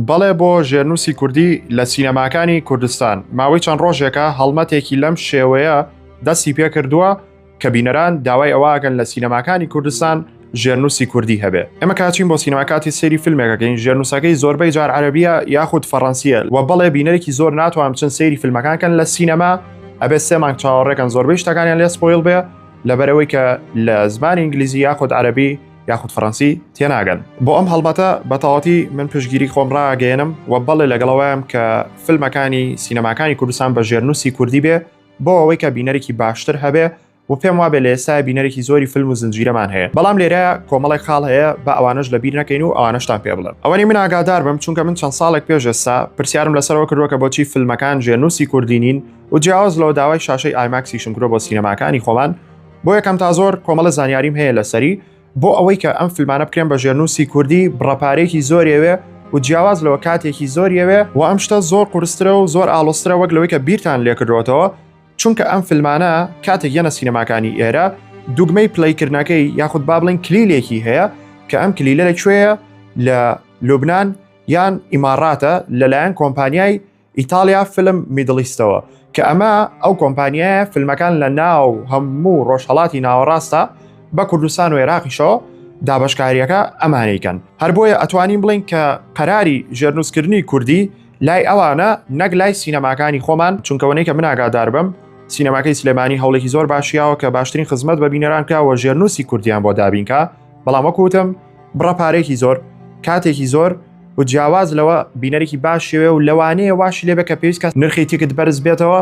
بەڵێ بۆ ژێرنووسی کوردی لە سینەماکانی کوردستان ماوەی چەند ڕۆژێکە هەڵمەتێکی لەم شێوەیە دەستی پێ کردووە کە بینەران داوای ئەوواگەن لە سینەماکانی کوردستان ژێرنووسی کوردی هەبێ ئەمە کاچین بۆ سینەماکاتی سری فیلمێکەکەین ژێرنووسەکەی زۆربەی جار عەربیە یاخود فەڕەنسیە و بەڵێ بینەرێکی زۆر ناتوان چەند سری فیلمەکانکەن لە سینەما ئەبێ سێ مانگ چاوەڕێکەن زۆربەی شتەکانیان لێ سپۆیل بێ لەبەرەوەی کە لە زمانی ئینگلیزی یاخود عەربی یاخود فەڕەنسی تێناگەن بۆ ئەم هەڵبەتە بەتەواتی من پشگیری خۆم ڕاگەێنم و بەڵێ لەگەڵەوەیان کە فیلمەکانی سینەماکانی کوردستان بە ژێرنووسی کوردی بێ بۆ ئەوەی کە بینەرێکی باشتر هەبێ و پێم وابێ لە ئێستا بینەرێکی زۆری فیلم و زنجیرەمان هەیە بەڵام لێرە کۆمەڵێک خاڵ هەیە بە ئەوانش لە بیر نەکەین و ئەوانشتان پێ بڵێن ئەوەنی من ئاگادار بم چونکە من چەند ساڵێک پێش ئێستا پرسیارم لەسەرەوە کردووە کە بۆچی فیلمەکان ژێنوسی کوردینین و جیاواز لەوە داوای شاشەی ئایماکسیشم کرۆ بۆ سینەماکانی خۆمان بۆ یەکەم تا زۆر کۆمەڵە زانیاریم هەیە لەسەری بۆ ئەوەی کە ئەم فیلمانە بکرێن بە ژێرنووسی کوردی بڕەپارێکی زۆرەوێ و جیاواز لەوە کاتێکی زۆریەوێ و ئەم شتە زۆر قورسترە و زۆر ئاڵۆسترە وەک لەوەی کە بیرتان لێکردوەتەوە چونکە ئەم فیلمانە کاتێک یەنە سینەماکانی ئێرە دوگمەی پلیکردنەکەی یاخود با بڵین کلیلێکی هەیە کە ئەم کلیلە لەکوێیە لە لوبناان یان ئیماڕاتە لەلایەن کۆمپانیای ئیتاڵیا فیلم میدڵیستەوە کە ئەمە ئەو کۆمپانیایە فیلمەکان لە ناو هەموو ڕۆژهڵاتی ناوەڕاستە بە کوردستان و عێراقیشەوە دابشکاریەکە ئەمانەیکەن هەر بۆیە ئەتوانین بڵین کە قەراری ژێرنووسکردنی کوردی لای ئەوانە نەک لای سینەماکانی خۆمان چونکەوەنەی کە مناگادار بم سینەماکەی سلێمانی هەوڵێکی زۆر باشیاوە کە باشترین خزمەت بە بینەران کراوە ژێرنووسی کوردیان بۆ دابینکە بەڵام وەکوتم بڕە پارێکی زۆر کاتێکی زۆر و جیاواز لەوە بینەرێکی باشێ و لەوانەیە واش لێبێ کە پێویستکە نرخی تیکت بەرز بێتەوە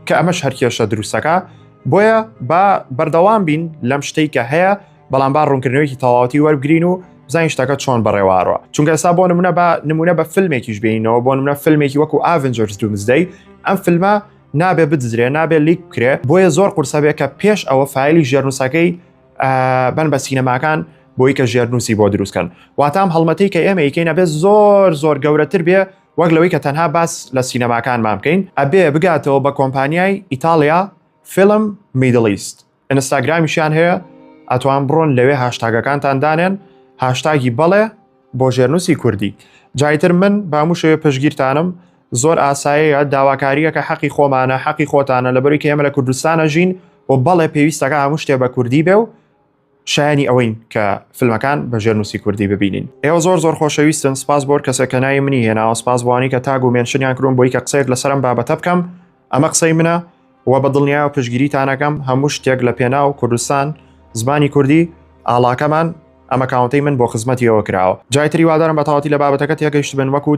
کە ئەمەش هەرکێشە دروستەکە بۆیە با بەردەوام بین لەم شتەی کە هەیە بەڵام با ڕوونکردنەوەیکی تەواوەتی وەرگین و بزانین شتەکە چۆن بەڕێوارەوە چونکە سا بۆ نمونە بە نمونە بە فیلمێکیش بینەوە بۆ نمونە فیلمێکی وەکو ئاڤنجرز دومزدەی ئەم فیلمە نابێ بدزرێ نابێ لیک بکرێ بۆیە زۆر قورسە بێ کە پێش ئەوە فیلی ژێرنووسەکەی بن بە سینەماکان بۆی کە ژێرنووسی بۆ دروستکەن واتام هەڵمەتی کە ئێمە یکەینە بێت زۆر زۆر گەورەتر بێ وەک لەوەی کە تەنها باس لە سینەماکانمان بکەین ئەبێ بگاتەوە بە کۆمپانیای ئیتالیا فیلم میدلیست ئینستاگرامیشیان هەیە ئەتوان بڕۆن لەوێ هاشتاگەکانتان دانێن هاشتاگی بەڵێ بۆ ژێرنووسی کوردی جایتر من باموشەوێ پشگیرتانم زۆر ئاساییە، داواکارییەکە حەقی خۆمانە، حەقی خۆتانە، لەبەرو کە ئێمە لە کوردستان ئەژین و بەڵێ پێویستەکە هەموو شتێ بە کوردی بێ و شایەنی ئەوەین کە فلمەکان بە ژێرنووسی کوردی ببینین. ئێوە زۆر زۆر خۆشەویستن، سپاس بۆ هەر کەسێک کە ناوی منی هێناوە، سپاس بۆوانەی کە تاگ و مێنشنیان کردووم بۆی کە قسەیەک لەسەر ئەم بابەتە بکەم، ئەمە قسەی منە و بە دڵنیایەوە پشتگیریتان ئەکەم، هەموو شتێک لە پێناو کوردستان، زمانی کوردی ئاڵاکەمان، ئەم ئەکاونتەی من بۆ خزمەتی ئێوە کراوە. جای تر هیوادارم بە تەواوەتی لە بابەتەکە تێگەیشتبن، وەک